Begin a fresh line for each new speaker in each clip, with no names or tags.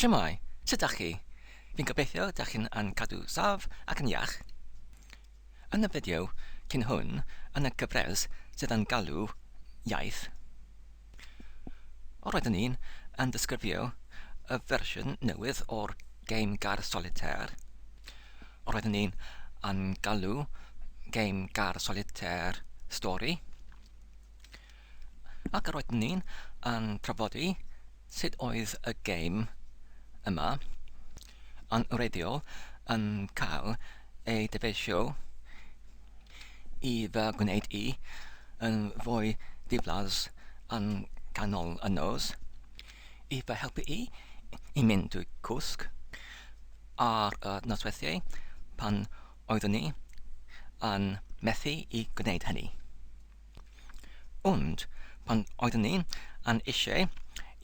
Shwmae, sut dach chi? Fi'n gobeithio dach chi'n yn cadw saf ac yn iach. Yn y fideo cyn hwn, yn y gyfres sydd yn galw Iaith, roeddwn i'n yn disgrifio y fersiwn newydd o'r gêm gar solitaire. Roeddwn i'n yn galw gêm gar solitaire stori. Ac roedden ni'n yn trafodi sut oedd y gêm yma yn wreiddiol yn cael ei dyfeisio i fy gwneud i yn fwy diflas yn ganol y nos, i fy helpu i i mynd drwy cwsg ar y nosweithiau pan oeddwn i yn methu i gwneud hynny. Ond pan oeddwn ni yn eisiau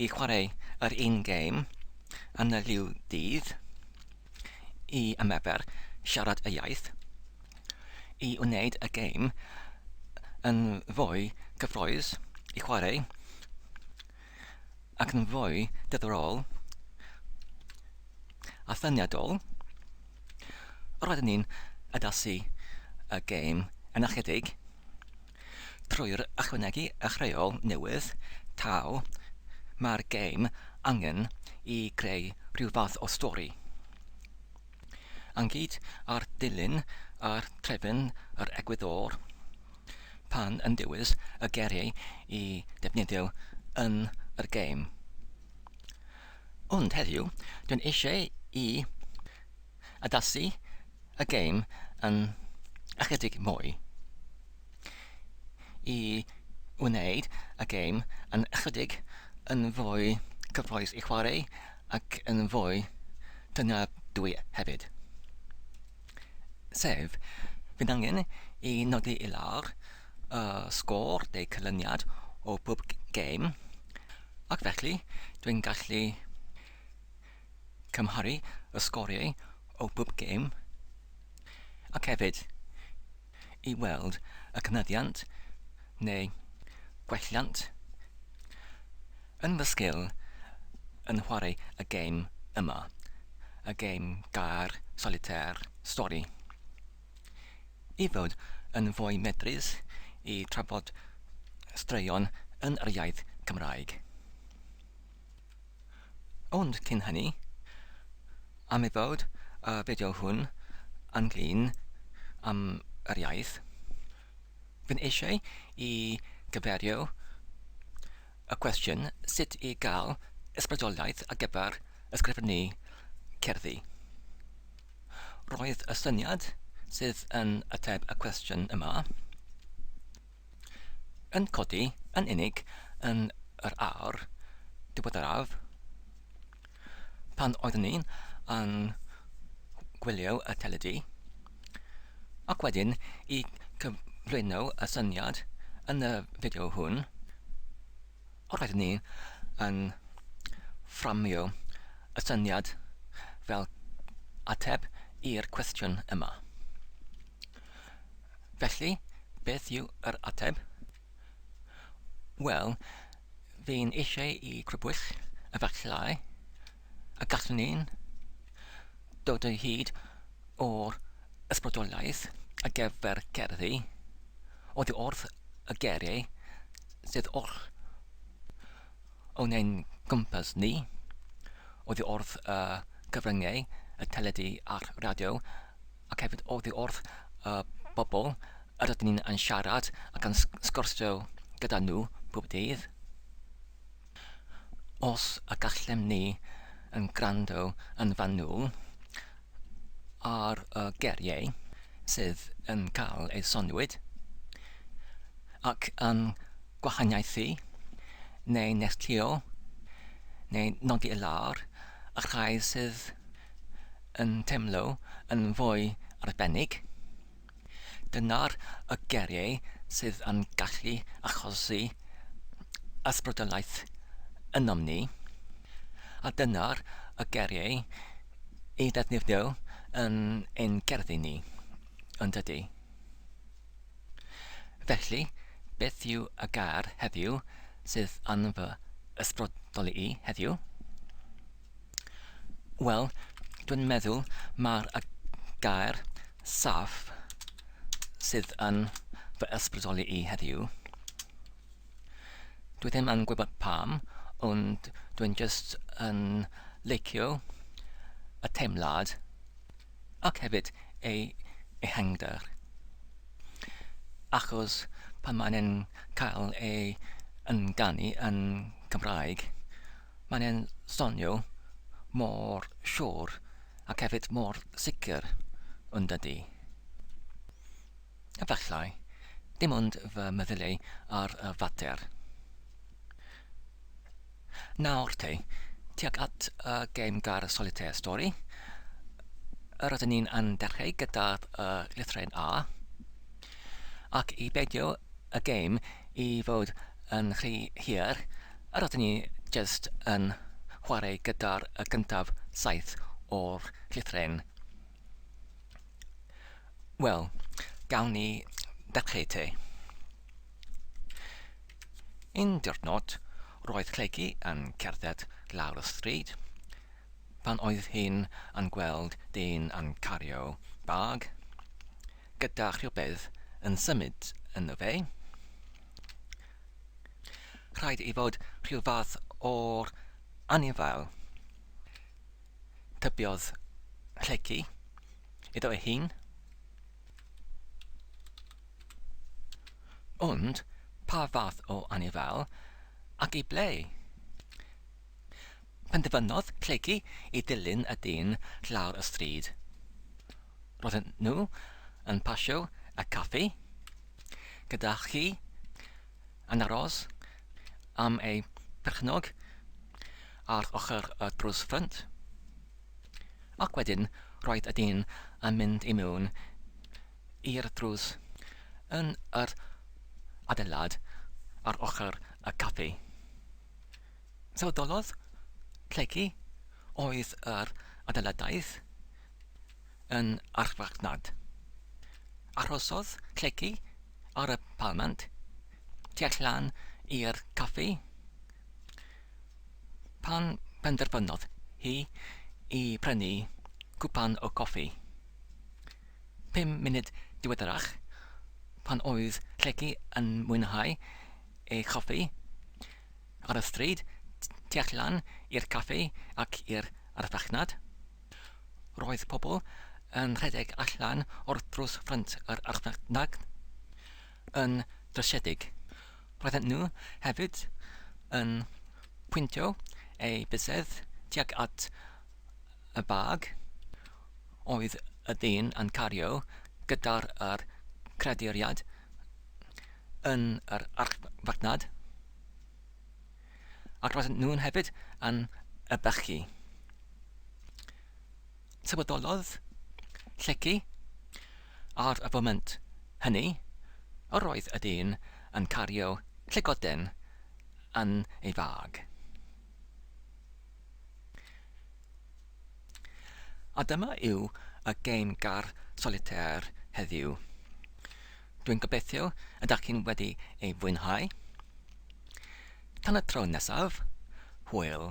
i chwarae yr un gêm yn y lliw dydd i ymarfer siarad y iaith, i wneud y gêm yn fwy cyffrous i chwarae ac yn fwy diddorol a thyniadol, Roedden ni'n addasu y gêm yn ychydig trwy'r ychwanegu eich rheol newydd taw mae'r gêm angen i greu rhyw fath o stori. Ynghyd â'r dilyn a'r trefn yr egwyddor pan yn dewis y geiriau i ddefnyddio yn yr gêm. Ond heddiw, dwi'n eisiau i addasu y gêm yn ychydig mwy, i wneud y gêm yn ychydig yn fwy cyffrous i chwarae ac yn fwy tyngedwy hefyd. Sef, bydd angen i nodi i lawr y sgôr neu cylyniad o bob gêm ac felly dwi'n gallu cymharu y sgoriau o bob gêm ac hefyd i weld y cynyddiant neu gwelliant yn fy sgil yn chwarae y gêm yma, y gêm gair, solitaire, stori. i fod yn fwy medrus i trafod straeon yn yr iaith Gymraeg. Ond cyn hynny, am ei fod y fideo hwn yn glin am yr iaith, fi'n eisiau i gyferio y cwestiwn sut i gael ysbrydoliaeth ar gyfer ysgrifennu cerddi. Roedd y syniad sydd yn ateb y cwestiwn yma yn codi yn unig yn yr awr diweddaraf pan oeddwn ni yn gwylio y teledu ac wedyn i cyflwyno y syniad yn y fideo hwn Os ydyn ni yn fframio y syniad fel ateb i'r cwestiwn yma, felly beth yw yr ateb? Wel, fi'n eisiau i grybwyll efallai y gallwn ni dod o hyd o'r ysbrydoliaeth ar gyfer cerddi, Oddi wrth y geiriau sydd oll o'n ein cwmpas ni, oddi wrth y cyfryngau, y teledu a'r radio, ac hefyd oddi wrth y bobl yr ydyn ni yn siarad ac yn sgwrsio gyda nhw pob dydd. Os y gallem ni yn gwrando yn fanwl, ar y geiriau sydd yn cael eu soniwyd ac yn gwahaniaethu neu nestlio neu nodi i lawr y rhai sydd yn teimlo yn fwy arbennig. Dyna'r y geriau sydd yn gallu achosi ysbrydoliaeth ynom ni, a dyna'r y geriau i ddefnyddio yn ein gerddi ni, yn dydy? Felly, beth yw y gair heddiw sydd yn fy ysbrydoli i heddiw? Wel, dwi'n meddwl mae'r y gair saff sydd yn fy ysbrydoli i heddiw. Dwi ddim yn gwybod pam, ond dwi'n just yn leicio y teimlad ac hefyd ei ehangder. Achos pan mae'n cael ei ynganu yn Cymraeg, Mae'n e'n sonio mor siwr ac hefyd mor sicr, yn dydi? Efallai, dim ond fy meddyliau ar y fater. Nawr te, tuag at y gêm gair solitaire stori, yr ydyn ni'n yn dechreu gyda'r uh, lithre'n A, Ac i beidio y gêm i fod yn rhy hir, yr oedden ni jyst yn chwarae gyda'r y gyntaf saith o'r llythryn. Wel, gawn ni ddechreu te. Un diwrnod, roedd Clegi yn cerdded lawr y stryd pan oedd hi'n yn gweld dyn yn cario bag. gyda rhywbeth yn symud ynddo fe, rhaid i fod rhyw fath o'r anifail. Tybiodd Lleucu iddo ei hun. Ond pa fath o anifail ac i ble? Penderfynodd plygu i ddilyn y dyn lawr y stryd. Roedden nhw yn pasio y caffi gyda chi yn aros am eu perchnog ar ochr y drws ffrynt. Ac wedyn roedd y dyn yn mynd i mewn i'r drws yn yr adeilad ar ochr y caffi. Sawdolodd Lleucu oedd yr adeiladaudd yn archfarchnad. Arhosodd Lleucu ar y palmant tu allan i'r caffi pan benderfynodd hi i brynu cwpan o goffi. Pum munud diweddarach, pan oedd Lleucu yn mwynhau ei choffi, Ar y stryd tu allan i'r caffi ac i'r archfarchnad, roedd pobl yn rhedeg allan o'r drws ffrynt yr archfarchnad yn drysedig. Roedden nhw hefyd yn pwyntio eu bysedd tuag at y bag oedd y dyn yn cario gyda'r creaduriaid yn yr archfarchnad, ac roedden nhw'n hefyd yn y bechgyn. Tywydolodd lleci ar y foment hynny, yr oedd y dyn yn cario llygoden yn ei fag. A dyma yw y gêm gar solitaire heddiw. Dwi'n gobeithio y dach chi'n wedi ei fwynhau. Tan y tro nesaf, hwyl!